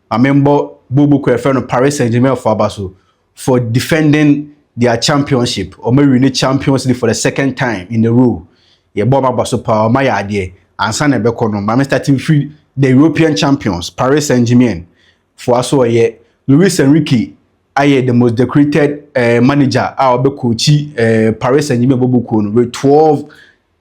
Ma me mbɔ booboo kor a yɛfrɛ no Paris Saint Germain fo aba so for defending their championship, wɔn awi ne champions league for the second time in a row. Yɛ bɔ wɔn aba so paa, wɔn ayɛ adeɛ. Ansa na ɛbɛkɔ no, ma me start mfiri the European champions, Paris Saint Germain fo aso ɔyɛ Luis Enrique ayɛ the most decorated eh, manager a ɔbɛ coachi eh, Paris Saint Germain booboo kuo no with 12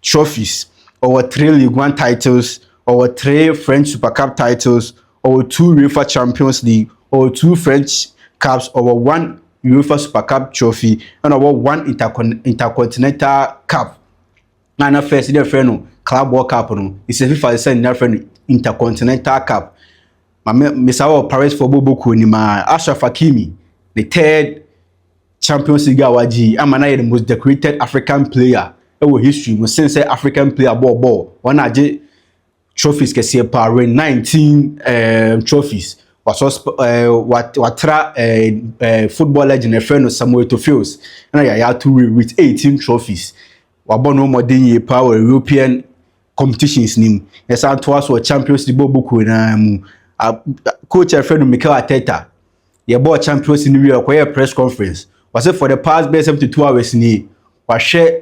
trophies. Ɔwɔ three League One titles, ɔwɔ three French Super Cup titles, ɔwɔ two UEFA Champions League, ɔwɔ two French Cups, ɔwɔ one UEFA Super Cup trophy, ɛna ɔwɔ one Intercon Intercontinental Cup. Na na first dɛ frɛ no Club World Cup no, ɛsɛ FIFA sɛ na frɛ no Intercontinental Cup. Ma me mesa wɔ Paris fo bɔbɔ kuo nim a, Ashraf Hakimi, the third Champions League a wagye yi ama no ayɛ the most decorated African player wɔ history mu sen sɛ African player bɔɔ bɔɔl wɔn agye trophies kɛseɛ paa win 19 um, trophies wasɔ uh, wat, watra uh, uh, football legend ɛfrɛ no Samuel Eto'o Fields ɛna Yaya Toure with 18 trophies wabɔ no mmɔden yie paa wɔ European competitions nim yɛsan toa so wɔ Champions League bɔɔl bokuo naa mu coach ɛfrɛ no Mikel Arteta yɛbɔɔ Champions no wie a, ɔkɔyɛɛ press conference. Ɔse for the past bɛyɛ 72 hours ni, wahwɛ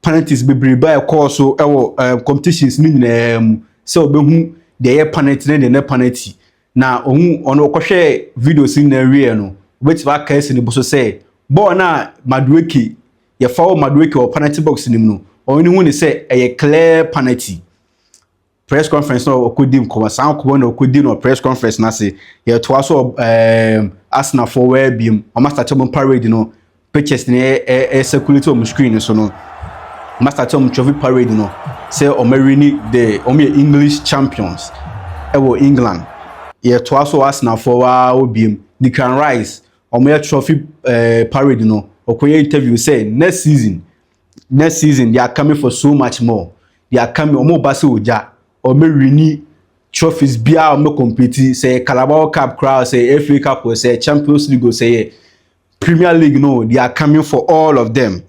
penalties bebrebe a ɛkɔɔ so wɔ uh, competitions no nyinaa mu sɛ ɔbɛhu deɛ ɛyɛ penalty ne deɛ ne penalty. Na ɔhu ɔno ɔkɔhwɛɛ videos no nyinaa wie no, wobɛtumi aka asi ne bo so sɛ bɔɔl no a Madueke yɛfa wɔ Madueke wɔ penalty box no mu no, ɔno ne hu ne sɛ ɛyɛ clear penalty. Press conference na ɔkɔdi nkɔmɔ saa nkɔmɔ na ɔkɔdi no press conference no ase yɛtoa so ɛɛm asenafoɔ wɔyɛ biom wɔn asate wɔn parade no pictures na ɛɛ circulate wɔn screen no so no wɔn asate wɔn trophy parade no sɛ wɔn awini de wɔn yɛ English champions ɛwɔ England yɛtoa so asenafoɔ waa wɔ biom Declan Rice wɔn yɛ trophy ɛɛ parade no ɔkɔyɛ interview sɛ next season next season they are coming for so much more they are coming wɔn ba sɛ ogya wɔn bɛ wini trophies biara wɔn bɛ compete sɛ yɛ carabao cup koraa sɛ yɛ fa cup sɛ yɛ champions league sɛ yɛ premier league no they are coming for all of them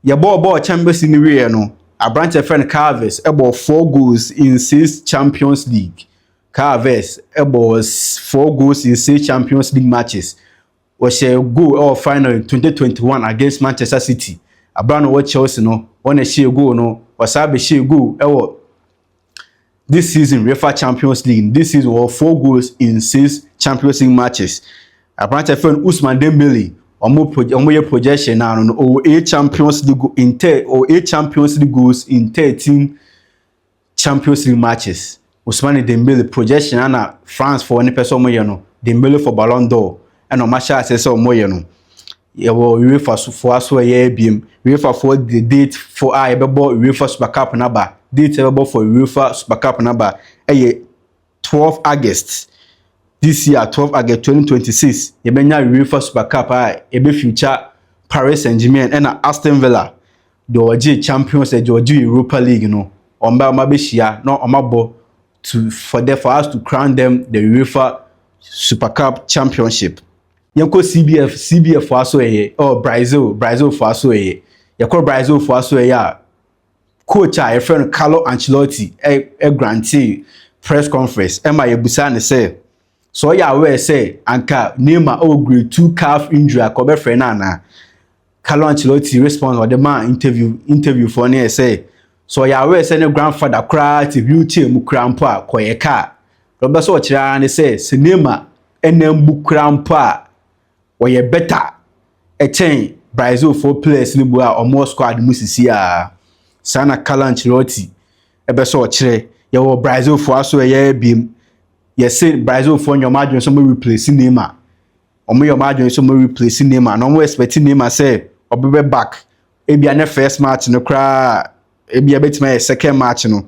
yɛbɔɔ bɔɔl champions league no wieɛ no aberanteɛ fɛn carves ɛbɔ four goals in six champions league carves ɛbɔ four goals in six champions league matches. wɔhyɛɛ goal wɔ final in twenty twenty one against Manchester City. Aber a na ɔwɔ Chelsea no, hɔn na hyɛɛ goal no. Ɔsan bɛhyɛɛ goal wɔ this season UEFA Champions League no. This season ɔwɔ four goals in six Champions League matches. Aberantsɛ fɛ no Ousmane Dembele, ɔmo pro ɔmo yɛ projection no ano no, ɔwɔ eight Champions League go in thir ɔwɔ eight Champions League goals in thirteen Champions League matches, Ousmane Dembele projection a na France foɔ no pɛ sɛ wɔyɛ no, Dembele for Ballon d'Or, ɛna wɔn ahyɛ aseɛ sɛ wɔyɛ no. Yɛwɔ UEFA foɔ aso a ɛyɛ abiem. UEFA foɔ de date foɔ a yɛbɛbɔ UEFA Super Cup n'aba, date a yɛbɛbɔ for UEFA Super Cup n'aba ɛyɛ twelve August this year, twelve August twenty twenty six, yɛbɛnya UEFA Super Cup a ebe future Paris Saint-Germain ɛna Aston Villa deɛ ɔgye Champions League, deɛ ɔgye Europa League no. Wɔn bɛ wɔn abɛhyia na wɔn abɔ to for the for us to crown them the UEFA Super Cup Championship. Yɛnkɔ CBF CBF fo aso ɛyɛ, oh Brazil Brazil fo aso ɛyɛ. Yɛkɔ Brazil fo aso ɛyɛ a. coach a yɛfrɛ no Carlo Ancelotti grantee press conference ɛma yɛbusaa no sɛ sɛ ɔyɛ aware sɛ anka Neymar ɔwɔ grade two calf injury a kɔbɛfrɛ no anaa Carlo Ancelotti response ɔde maa interview interview foɔ no yɛ sɛ sɛ ɔyɛ aware sɛ ne grandfather koraa te wheelchair mu koraa mpo a kɔyɛ kaa ɔbɛ sɛ ɔkyerɛ ara ne sɛ sɛ Neymar ɛnam bu koraa mpo a wɔyɛ better kyɛn Brazilfoɔ players no bu a wɔwɔ squad mu sisiaa. Saa na Carlo Ancelotti bɛ sɛ ɔkyerɛ. Yɛwɔ Brazilfoɔ aso ɛyɛ abiem. Yɛse Brazilfoɔ nyɛ wɔn adwene sɛ wɔn replace Neymar. Wɔn yɛ wɔn adwene sɛ wɔn replace Neymar na wɔn expect Neymar sɛ ɔbɛbɛ back. Ebia nyɛ first match no koraa, ebia ebetumi ayɛ second match no.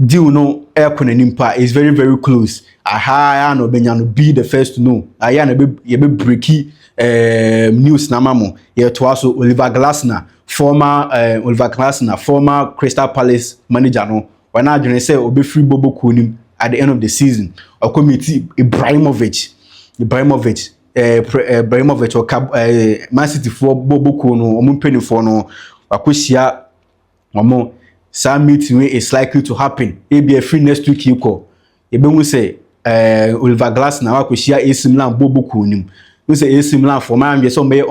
deal no ɛrekɔ n'anim pa is very very close aha ara na ɔbɛnya no be the first to know ayɛ na yɛbɛ breki eh, news na ama mo yɛtoa so Oliver Glasner former eh, Oliver Glasner former Crystal Palace manager no wɔn adwene sɛ ɔbɛfiri bobo kuo nim at the end of the season ɔkɔ meti Ibrahimovic Ibrahimovic eh, pre, eh, Ibrahimovic ɔka eh, Man City foɔ bobo kuo no wɔn mpanimfoɔ no wakɔhyia wɔn saa meeting wei is likely to happen ebi ɛfiri next week yi kɔ yɛbɛhu sɛ ɛɛ eh, Oliver Glasner wakɔhyia AC Milan bɔ bɔ kuo nim n sɛ AC Milan fo ɔmo anwɛ sɛ ɔmo bɛyɛ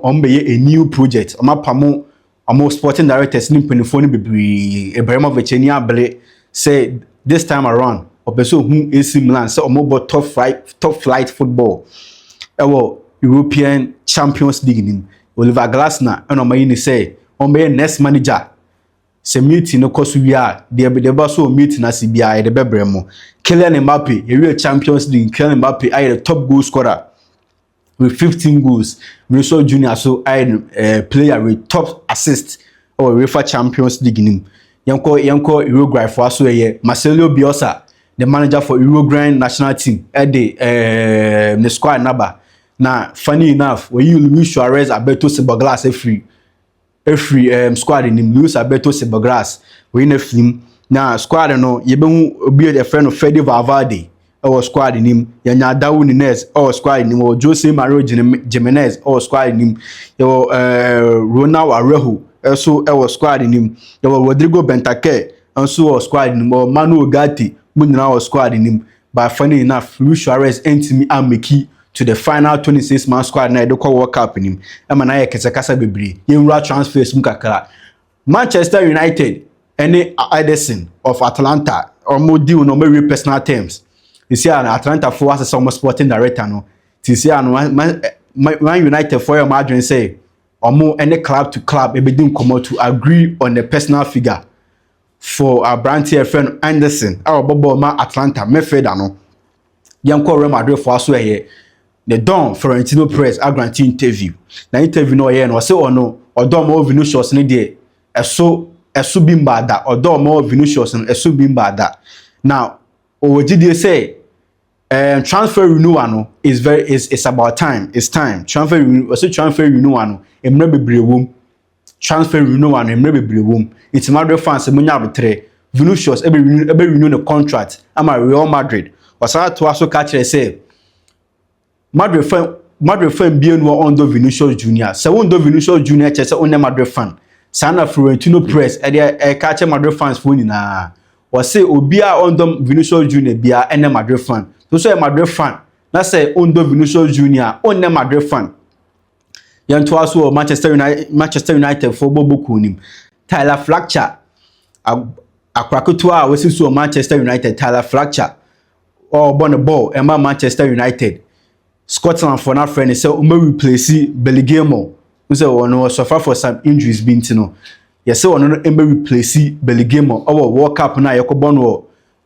ɔmo bɛyɛ a new project ɔmo apamo ɔmo sporting directors ne mpanimfoɔ no bebree Ibrahimovic ani abere sɛ this time around ɔpɛ sɛ ohun AC Milan sɛ ɔmo bɔ top flight top flight football ɛwɔ European Champions League nim Oliver Glasner na wɔayi no sɛ ɔmmɛyɛ nurse manager. Sɛ meeting no kɔ so wie a, deɛ deɛ ɛba so wɔ meeting no ase biara, yɛde bɛbrɛ mo. Kylian Mbappe, yɛwie Champions League, Kylian Mbappe ayɛ the top goal scorer with 15 goals. Vinicius Junior so ayɛ no eh, player with top assist wɔ UEFA Champions League no mu. Yɛnkɔ yɛnkɔ Uruguay foɔ so ɛyɛ Marcelo Bielsa, the manager for Uruguayan national team, ɛde eh, ne squad naba. Na funny enough, wɔayi Luis Suarez abɛto Ciboglas afiri afiri um, squad nim. Luis abɛto Ciboglas, wɔyi no afiri mu. Na squad no, yɛbɛhu obi a yɛfrɛ no Fede Valverde ɛwɔ squad nim. Yɛnya Darwin Nunez ɛwɔ squad nim. Wɔ Jose Mario Jimenez ɛwɔ squad nim. Yɛwɔ uh, Ronald Araujo ɛso ɛwɔ squad nim. Yɛwɔ Rodrigo Bentancur nso wɔ squad nim. Wɔ Manuel Ugarte mu nyinaa wɔ squad nim. By fa no nyinaa Luis Suarez antumi ammeki to the final 26 man squad no a yɛde kɔ World Cup no mu ɛma no ayɛ kɛsɛkasa bebree. Yɛnwura transfers mu kakra. Manchester United ɛne Ederson of Atalanta wɔn deal no wɔawie personal terms. Sisi a Atalanta foɔ asesa wɔn sporting director no. Sisi a no Man United foɔ yɛ wɔn adwene sɛ wɔn ɛne club to club ɛbɛdi nkɔmmɔ to agree on a personal figure. for aberanteɛ a yɛfrɛ no Anderson a ɔbɔ bɔɔl ma Atlanta midfielder no. Yɛnkɔ Real Madrid fo aso ɛyɛ ne dɔn Florentino Perez agrante interview. Na interview no ɔyɛ no ɔse ɔno ɔdɔ ɔmo Vinicius no deɛ ɛso ɛso bi mbaa da ɔdɔ ɔmo Vinicius no ɛso bi mbaa da na ɔwɔ gyidie sɛ um, transfer renewal no is very is it's about time it's time transfer renewal ɔse transfer renewal no mmerɛ bebree wɔ mu transfer renewal no mmerɛ bebree wɔ mu, nti Madrid fans sɛ monya aboterɛ, Vinicius ɛbɛ renew ɛbɛ renew ne contract ama Real Madrid, ɔsan toa so ka kyerɛ sɛ Madrid fan Madrid fan mmienu a ɔndɔ Vinicius Junior, sɛ wondɔ Vinicius Junior kyerɛ sɛ wonyɛ Madrid fan, saa na Florentino Perez ɛde ɛka kyerɛ Madrid fans foɔ nyinaa, ɔse obiara a ɔndɔ Vinicius Junior biara ɛnɛ Madrid fan, so sɛ ɔyɛ Madrid fan na sɛ ɔndɔ Vinicius Junior a ɔnnɛ Madrid fan. Yɛntoa so wɔ Manchester United Manchester United fo bɔ bɔ kuo no mu. Tyler Fletcher akora ketewa a wasi so wɔ Manchester United Tyler Fletcher ɔrebɔ ne bɔɔl ɛma Manchester United. Scotland fo no afrɛ ne sɛ ɔmɛ replace Billy Gilmore. N sɛ wɔn no suffer for some injuries bi nti no. Yɛsɛ wɔn no ɔmɛ replace Billy Gilmore ɔwɔ World Cup no a yɛkɔbɔ no wɔ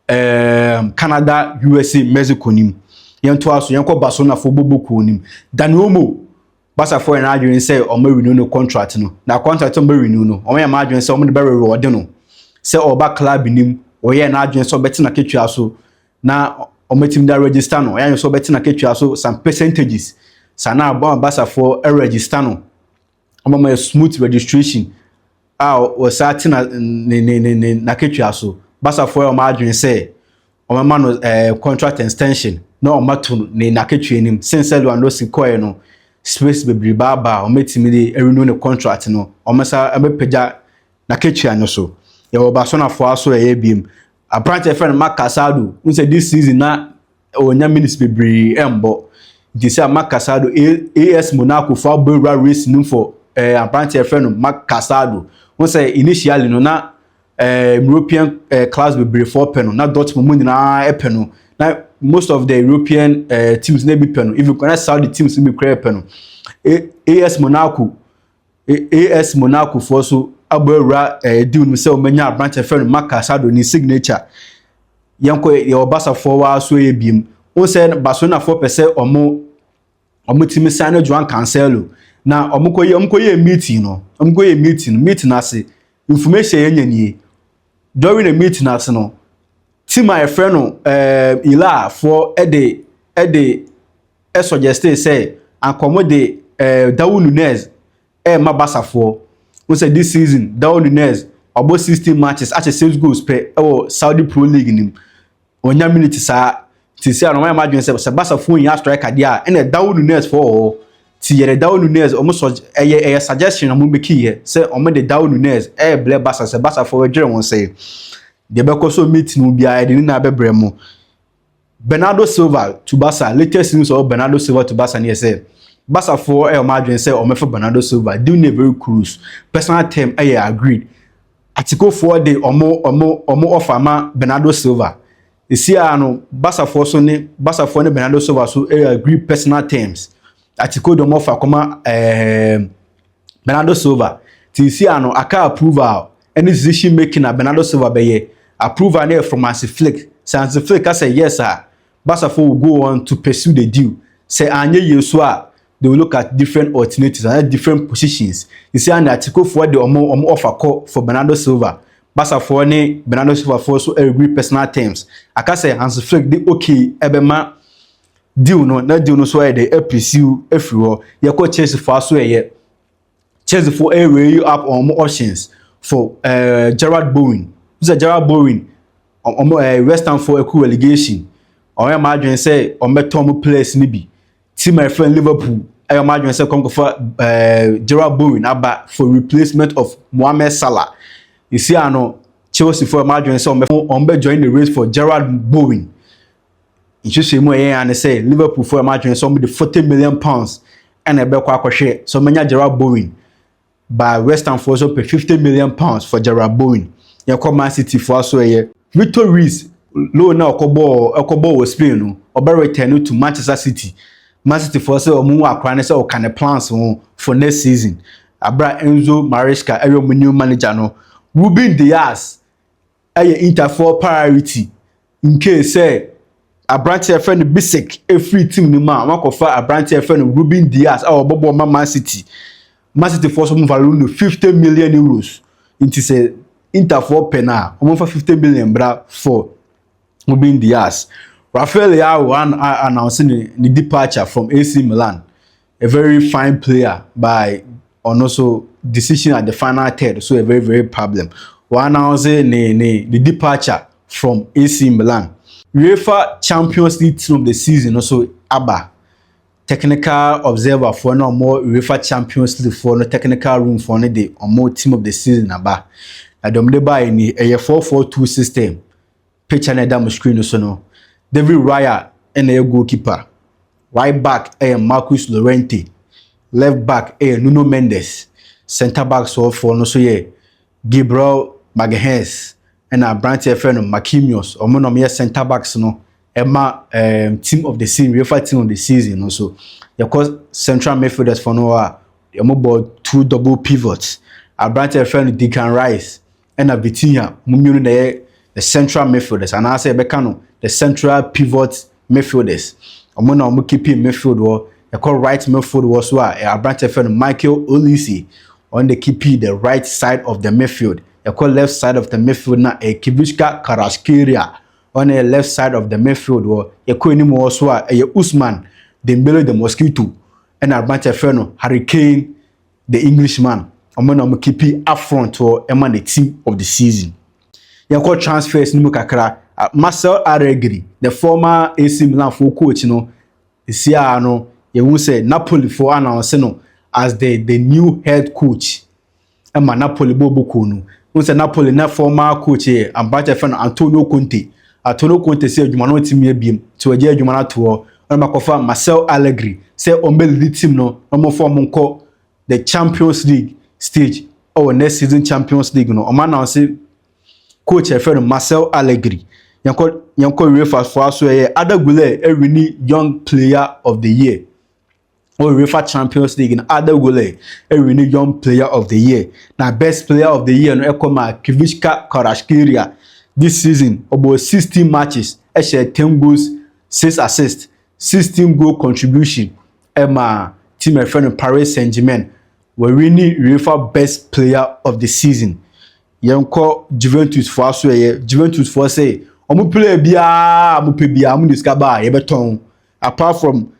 um, Canada, USA, Mexico nim. Yɛntoa so, yɛnkɔ Barcelonafoɔ bɔbɔ kuo nim. Dani Olmo, Barcafoɔ yɛn adwene sɛ wɔn renew no contract no. Na contract wɔn bɛ renew no, wɔn yɛn adwene sɛ wɔn de bɛ reward no. Sɛ ɔba club nim, wɔyɛ n'adwene sɛ ɔbɛte na ketua so na wɔatumi da register no. Wɔyɛ adwene sɛ ɔbɛte na ketua so some percentages. Saa na Barcafoɔ register no. ama ma smooth registration a wɔsan te na ne ne ne ne n'akatua so basafoɔ a wɔn adwene sɛ wɔbɛma no ɛɛ eh, contract extension na wɔn ato ne n'akatua anim sen sɛ Lewandowski kɔɛ no space bebree baabaa wɔn atumi de renew ne contract no wɔn nsa bɛpagya n'akatua no so yɛwɔ Barcelonafoɔ aso ɛyɛ biem Aberanteɛ yɛfrɛ no Marc Casado, wohu sɛ this season na ɔnya minutes bebree ɛmbɔ. Nti sɛ Marc Casado, AS Monaco fo abɛwura race no for eh, aberanteɛ yɛfrɛ no Marc Casado. Wohu sɛ initially no na eh, European eh, clubs bebree fo pɛ no, na Dortmund mu nyinaa ɛpɛ no. Na most of the European eh, teams na ebi pɛ no, even na Saudi teams no bi koraa pɛ no. AS Monaco AS Monaco foɔ so abɔ awura ɛɛ deal no sɛ wɔbɛnya aberanteɛ fɛ no Marc Casado ne signature yɛnkɔ yɛwɔ Barca foɔ wɔ aso yɛ biem wɔn sɛ Barcelona foɔ pɛ sɛ wɔn wɔn tumi san no Joan Cancelo na wɔn kɔ yɛ wɔn kɔ yɛ meeting no wɔn kɔ yɛ meeting no meeting ase information yɛn nyɛ nie during the meeting ase no team a yɛfrɛ no ɛɛ Ila foɔ ɛde ɛde. suggestee sɛ anka wɔde eh, Darwin Nunez ɛrema Basafoɔ. Wo sɛ this season Darwin Nunez wabɔ 16 matches ahyɛ 6 goals pɛ ɛwɔ Saudi Pro League no mu. Wɔnya minute saa. Nti sɛ ano wɔayɛ m'adwene sɛ sɛ Basafoɔ nyia striker deɛ a ɛna Darwin Nunez foɔ wɔ hɔ. Ti yɛde Darwin Nunez wɔn sɔ ɛyɛ ɛyɛ suggestion wɔn bɛkiiɛ sɛ wɔde Darwin Nunez ɛrebrɛ Basa sɛ Basafoɔ bɛdwere wɔn sɛ deɛ bɛkɔ so meet no biara yɛde ne na bɛbrɛ mo. Bernardo Silva to Barca Latest news ɔwɔ Bernardo Silva to Barca ne yɛ sɛ Barcafoɔ ɛyɛ wɔn adwene sɛ wɔbɛfa Bernardo Silva deal ne very close personal term ɛyɛ agreed Atikofoɔ de wɔn wɔn wɔn offer ma Bernardo Silva ɛsi ara no Barcafoɔ so ne Barcafoɔ ne Bernardo Silva so ɛyɛ agreed personal terms Atiko de wɔn offer kɔma ɛɛɛ. Bernardo Silva te nsi ano aka Approval ne decision making a Bernardo Silva bɛyɛ. Approval no yɛ from Hansi Flick. Sɛ Hansi Flick ka sɛ yes a, Barca fo will go on to pursue the deal. Sɛ anyɛ yie nso a, they will look at different alternatives anaa different positions. Nsi ano Atletico foɔ de wɔn wɔn offer kɔ for Bernardo Silva. Barca foɔ ne Bernardo Silva foɔ nso agree personal terms. Aka sɛ Hansi Flick de okay bɛma Dew no, na dew no so ayɛ dɛ apirisiw afiri hɔ. Yɛkɔ Chelsea fo aso ɛyɛ. Chelsea fo eh, reyi up wɔn options for eh, Gerard Bowen. Sɛ Gerard Bowen, wɔn eh, West Ham fo ɛkɔ relegation. Wɔn yɛ m'adwene sɛ wɔn bɛtɔ wɔn players no bi. Ti my friend Liverpool ɛyɛ wɔn adwene sɛ kɔm kɔfa eh, Gerard Bowen aba for replacement of Mohamed Salah. Esi ano Chelsea fo ɛyɛ wɔn adwene sɛ wɔn bɛ wɔn bɛ join the race for Gerard Bowen. nhyehyɛmu a ɛyɛ ya ne sɛ Liverpool fo yɛ wɔn adwene sɛ wɔde forty million pounds ɛna ɛbɛkɔ akɔhwɛ sɛ wɔbɛnya Jarrod Bowen ba West Ham fo nso pɛ fifty million pounds for Jarrod Bowen yɛkɔ Man City fo aso ɛyɛ Victor Ruiz loan na ɔkɔbɔɔ ɛkɔbɔɔ wɔ Spain no ɔbɛ return to Manchester City Man City fo sɛ wɔn wɔ akora ne sɛ ɔka ne plans ho for next season abira Enzo Maresca ɛyɛ wɔn new manager no Ruben Dias yɛ Interfoɔ priority in case sɛ aberanteɛ a yɛfrɛ no Bisek firi team no mu a, wɔakɔfa aberanteɛ a yɛfrɛ no Ruben Dias a ɔbɔbɔ ma Man City. Man City foɔ so wɔfa loan no 50 million euros. Nti sɛ Interfoɔ pɛ no a, wɔmfa 50 million bra for Ruben Dias. Rafael Leao an announce ne, ne departure from AC Milan. a very fine player by ɔno so decision at the final third so yɛ very very problem wɔannounce ne ne ne departure from AC Milan UEFA Champions League team of the season no so aba technical observer foɔ na wɔn UEFA Champions League foɔ no technical room foɔ no de wɔn team of the season aba na deɛ wɔde baeɛ ni ɛyɛ four four two system Picture na ɛda mo screen no so no, David Raya na ɛyɛ goalkeeper. Right back yɛ Marcus Llorente. Left back yɛ Nuno Mendes. Centre back sɔɔfoɔ no nso yɛ Gabriel Magalhaes ɛna aberanteɛ fɛ no Marquinhos. Wɔn na wɔyɛ centre backs no ɛma um, team of the season, UEFA team of the season no nso. Yɛkɔ central midfielders fɔ no hɔ a, wɔbɔ two double pivots. Aberanteɛ fɛ no Declan Rice. na Vitinha wɔn mmienu na ɛyɛ the central midfielders anaasɛ yɛbɛka no the central pivot midfielders wɔn na wɔn keeping midfield hɔ ɛkɔ right midfield hɔ so a aberanteɛ fɛ no Michael Olise wɔn de keeping the right side of the midfield ɛkɔ left side of the midfield na ɛyɛ Kivishka Karaskelia wɔn yɛ left side of the midfield hɔ yɛkɔ anim hɔ so a ɛyɛ Usman Dembele the mosquito ɛna aberanteɛ fɛ no Harry Kane the Englishman ɔmo na ɔmo keepi upfront hɔ ɛma ne team of the season. Yɛnkɔ transfers no mu kakra. Marcel Aregri, the former AC Milan foɔ coach no, nsiaa no yɛhu sɛ Napoli foɔ announce no as the the new head coach ɛma Napoli bɔ bɔkuo no. Wohu sɛ Napoli na former coach yɛ aberanteɛ fɛ no Antonio Conte. Ato no kɔn te sɛ adwuma no ɔte mia biem nti ɔgyae adwuma no ato hɔ na ɔma kɔfa Marcel Allegri sɛ ɔmbɛ lidi team no na ɔmfa ɔmo nkɔ the Champions League stage wɔ next season Champions League no ɔmo announce coach a yɛfrɛ no Marcel Allegri yɛn kɔ yɛn kɔ UEFA foɔ aso ɛyɛ Ada Guler ɛwini young player of the year. wɔ UEFA Champions League no, Arda Güler ɛwini Young Player of the Year na Best Player of the Year no ɛkɔ ma Kivishka Kvaratskhelia. This season, ɔbɔ 16 matches, ɛhyɛ 10 goals, 6 assists, 16 goal contribution ɛma team ɛfɛ no Paris Saint-Germain. Wɔwini UEFA Best Player of the Season. Yɛnkɔ Juventus foɔ aso ɛyɛ Juventus foɔ sɛ wɔn player biara a wɔpɛ biara wɔn de sika baa yɛbɛtɔn. Apart from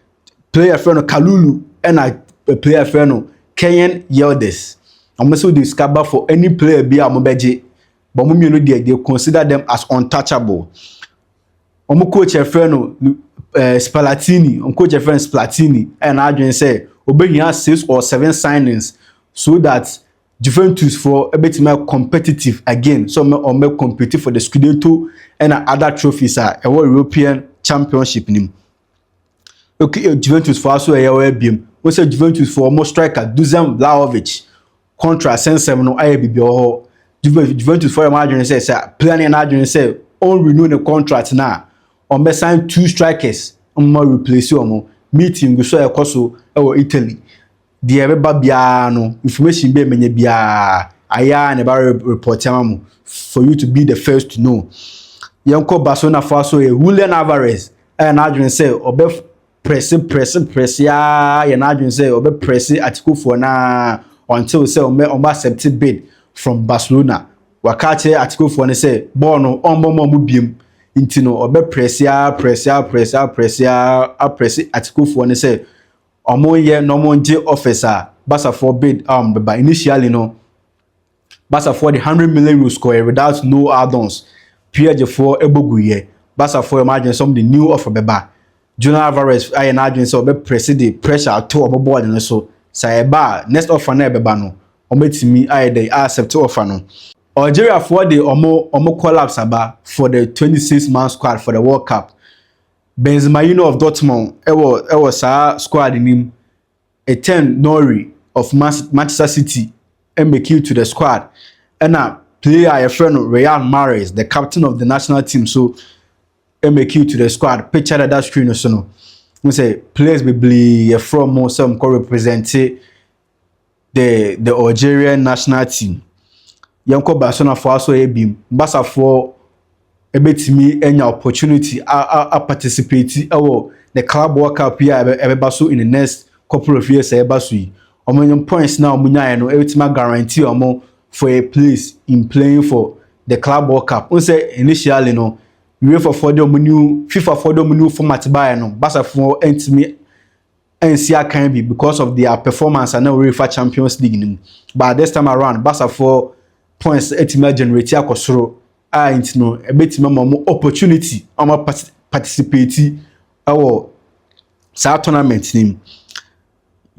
player fɛ no Kalulu ɛna player fɛ no Kenyan Yildiz. Wɔn nso de sika ba for any player bi a wɔbɛgye. But wɔn mmienu deɛ they consider them as untouchable. Wɔn coach fɛ no eh, Spallettini. Wɔn coach fɛ no Spallettini ɛna adwene sɛ obehia six or seven signings so that Juventus foɔ bɛtumi ayɛ competitive again sɛ ɔmɛ ɔmɛ compete for the Scudetto ɛna other trophies a ɛwɔ European Championship nim okay eh, Juventus foɔ aso ɛyɛ ɔyɛ biem wɔn sɛ Juventus foɔ ɔmo striker Dusan Vlahovic contra sɛnsɛm no ayɛ bibi wɔ hɔ Juventus foɔ yɛ wɔn adwene sɛ sɛ player no yɛ n'adwene sɛ ɔn renew ne contract na ɔn bɛ sign two strikers ɔmo ma replace ɔmo meeting gu so a ɛkɔ so ɛwɔ Italy. Deɛ ɛbɛba biara no, information bɛɛ manya biara, ayɛ ara na ɛba report ama mo for you to be the first to know. Yɛnkɔ Barcelona fo aso yɛ Julian Alvarez ɛyɛ n'adwene sɛ ɔbɛ prɛse prɛse prɛse ara yɛ n'adwene sɛ ɔbɛ prɛse Atikofoɔ na until sɛ ɔmɛ ɔmɛ accept bid from Barcelona. Waka akyerɛ Atikofoɔ no sɛ bɔɔl no ɔmbɔ mɔ mo biem nti no ɔbɛ prɛse ara prɛse ara prɛse ara prɛse ara aprɛse Atikofoɔ no sɛ ɔmo yɛ na ɔmo gye office a basafoɔ bid um, bɛba initially no basafoɔ de hundred million euros kɔɛ without no add-ons piɛgyefoɔ ɛbɔ gu yɛ basafoɔ yɛ ɔmo adwene sɛ ɔmo de new offer bɛba Julian Alvarez ayɛ n'adwene sɛ ɔbɛ press de pressure ato ɔmo board no so sɛ ɛba a next offer na ɛbɛba no ɔmo atumi ayɛ dɛ a accept offer no Algeriafoɔ de ɔmo ɔmo collapse aba for the twenty six man squad for the world cup. Benzema Junior of Dortmund wɔ wɔ saa squad no mu, Ethan Nori of Manchester City make it to the squad, ɛna player a yɛfrɛ no Riyad Mahrez, the captain of the national team so make it to the squad. Picture na ɛda screen no so no, n sɛ players bebree yɛfrɛ wɔn sɛ wɔkɔ represent the the Algeria national team. Yɛnkɔ Barcelona foɔ aso yɛ bi mu. Barca foɔ ɛbɛtumi anya opportunity a a a participate ɛwɔ the club world cup yi a ɛbɛba so in the next couple of years a ɛba so yi. Wɔn yɛn points na wɔn nyaeɛ no ɛbɛtumi guarantee wɔn for a place in playing for the club world cup. N sɛ initially no UEFA foɔ de wɔn new FIFA foɔ de wɔn new format baeɛ no Barca foɔ ɛntumi ansi akan bi because of their performance a na wɔrefa Champions League no mu. But this time around, Basafoɔ points atumi agenerate akɔ soro a nti no ɛbɛtumi ama wɔn opportunity a wɔn participate wɔ saa tournament no mu.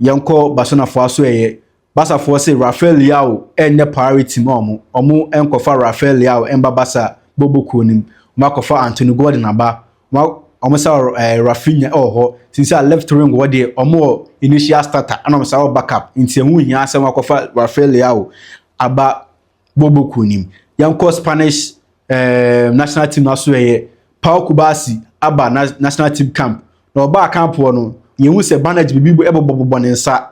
Yɛnkɔ Barcelonafoɔ aso ɛyɛ Barca foɔ se Rafael Leao ɛnyɛ priority ma ɔmo, ɔmo nkɔfa Rafael Leao mba Barca bɔbɔ kuo no mu, ɔmo akɔfa Anthony Gordon aba, ɔmo ɔmo sa wɔ ɛɛ Raphinha ɛwɔ hɔ, nti nse a left wing hɔ deɛ ɔmo wɔ initial starter ɛna ɔmo sa wɔ back up, nti ɛho nhia sɛ wɔakɔfa Rafael Leao aba bɔbɔ kuo no mu. Yɛnkɔ Spanish ɛɛ national team no aso ɛyɛ Pau Cubarsí aba na national team camp, na ɔbaa camp hɔ no, yɛhu sɛ bandage bibi bɔ ɛbobɔ bobɔ ne nsa,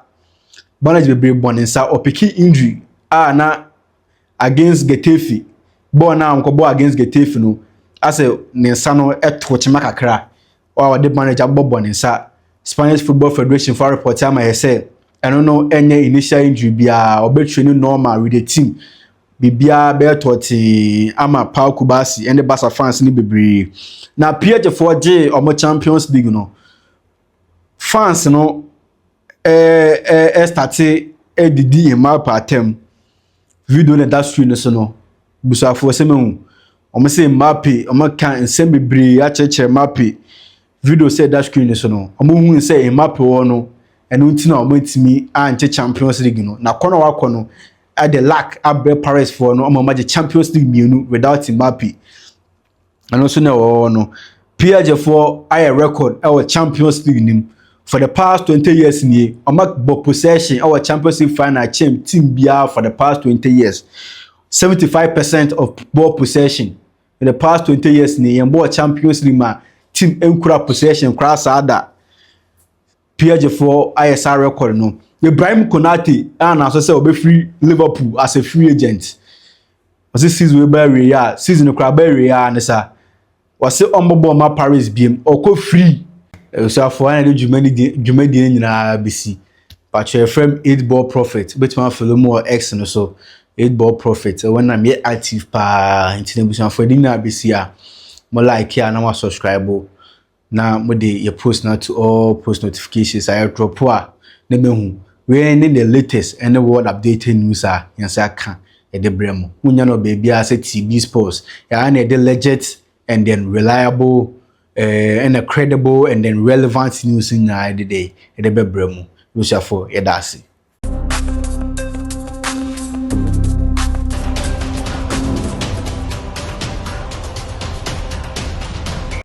Bɔne dze beberee bɔ ne nsa, ɔpeke Indri a na against Getafe bɔɔl no a ɔnkɔbɔɔ against Getafe no asɛ ne nsa no to kyema kakra a ɔde bɔne dze abɔ bɔ ne nsa. Spanish Football Federation fo arepɔte ama yɛ sɛ ɛno no ɛnyɛ initial injury biara, ɔbɛtwe no normal with the team. Biribiara bɛyɛ tɔɔtee ama Pau Kubasi ɛne Barca fans no bebree. Na PSG foɔ gyee ɔmo Champions League no, fans no ɛrestate redidi yɛn mma apaatam. Video no a ɛda screen no so no, abusuafoɔ sɛ mahu. Wɔse Mbappe, wɔaka nsɛm bebree akyerɛkyerɛ Mbappe. Video sɛ ɛda screen no so no, wɔhui sɛ Mbappe wɔ no, ɛno nti na wɔantumi ankye Champions League no. Na kɔn a wakɔ no, ɛde luck abrɛ Parisfoɔ no ama wɔagye Champions League mmienu without Mbappe. Ɛno nso na ɛwɔ hɔ no, PSG foɔ ayɛ record wɔ Champions League no mu. For the past twenty years nie, wɔabɔ possession wɔ Champions League final kyɛm team biara for the past twenty years. Seventy five percent of ball possession for the past twenty years nie, yɛn bɔɔ Champions League ma team nkura possession koraa saa da. PSGfoɔ ayɛ saa record no. Ibrahim Konate a na asɛ sɛ ɔbɛfiri Liverpool as a free agent. Ɔse season wei ba awieɛ a, season no koraa ba awieɛ a ne sa. Ɔse ɔmbɔbɔ mma Paris biam, ɔkɔ free. Abusuafoɔ, ha na yɛde dwuma no di- dwumadie no nyinaa bɛsi. Patwɛ yɛfrɛ me 8 ball prophet, wobɛtumi afolo mu wɔ X no so. 8 ball prophet, ɛwɔ no na meyɛ active paa, nti na abusuafoɔ yɛde nyinaa bɛsi a, mo like a na mo asubscribe. na mode yɛ post no ato all post notifications a airdrop a na mahu wei ne the latest ɛne world updated news a yɛn nsa aka ɛde brɛ mo monya no baabiara sɛ tb sports yɛa na ɛde legit and then reliable eh, and a credible and then relevant news nyinaa ɛde dɛ ɛde bɛbrɛ mo yosuafo yɛda ase